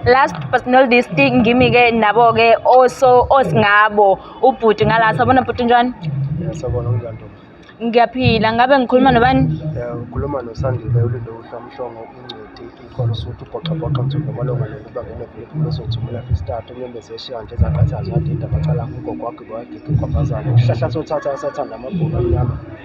last personal distinct ngimi ke nabo ke oso osingabo ubhuti ngala sabona bhuti njani sabona unjani ntombi ngiyaphila ngabe ngikhuluma nobani ukhuluma nosandile ulindo uhlamhlongo ingcweti ikhona usuthi ubhoxabhoxa nzulu amalunga nokuba ngenevuliphu umezothi umulafi isitatu unyembezi eshiya nje ezaqathazi wadinda amacala kugogo wagqiba wagigi kwabhazana uhlahla sothatha asathanda amabhulu amnyama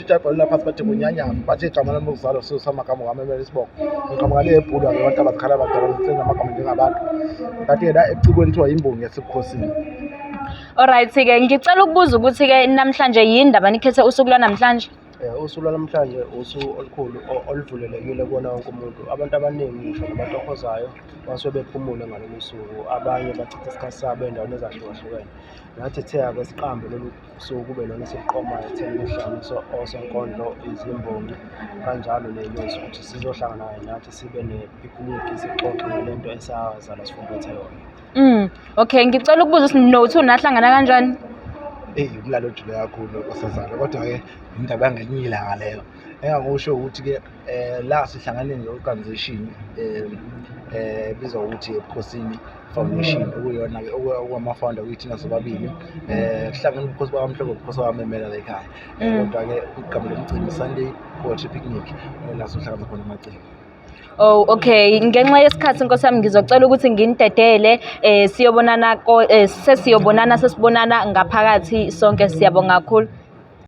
Sijabhalula phansi bathi kunyanyama bathi igama lami lokuzalwa sisama kamwe wami emele isiboko ngiqhamuka le ebhulu ake abantu abazikhala abadala ngisenza amagama njengabantu ngathi ke la ecikweni kuthiwa yimbongi yasebukhosini Alright ke ngicela ukubuza ukuthi ke namhlanje yini ndaba nikhethe usuku lwanamhlanje? Eh, usuku lwanamhlanje usuku olukhulu o- oluvulelekile kuwona wonke umuntu abantu abaningi ngisho nabantu ohozayo basuke bephumule ngalolu suku abanye bachitha isikhathi sabo ey'ndaweni ezahlukahlukene nathi thea-ke siqambe lolu usuku kube lona esiqomayo ekutheni kuhlanganiswe osonkondlo izimbongi kanjalo leyonzi ukuthi sizohlangana kanye nathi sibe nepikiniki sixoxe ngale nto esazalwa sifumbethe yona mm okay ngicela ukubuza ukuthi nothi unahlangana kanjani eyi umlalo ojule kakhulu osazalwa kodwa-ke yindaba yangelinye ilanga leyo engangikusho ukuthi-ke eh la sihlangane ne-organization eh eh bizwa ukuthi ebukhosini foundation okuyona ke okwamafounder kuyithina sobabili eh kuhlangene ubukhosi bakamhloko ubukhosi bamemela la ekhaya Eh, Mm. kodwa ke igama lomcimbi sunday poetry picnic eh, la sohlangana khona amacimbi Oh okay ngenxa yesikhathi Nkosi yami ngizocela ukuthi nginidedele eh siyobonana ko- eh, sesiyobonana sesibonana ngaphakathi sonke siyabonga kakhulu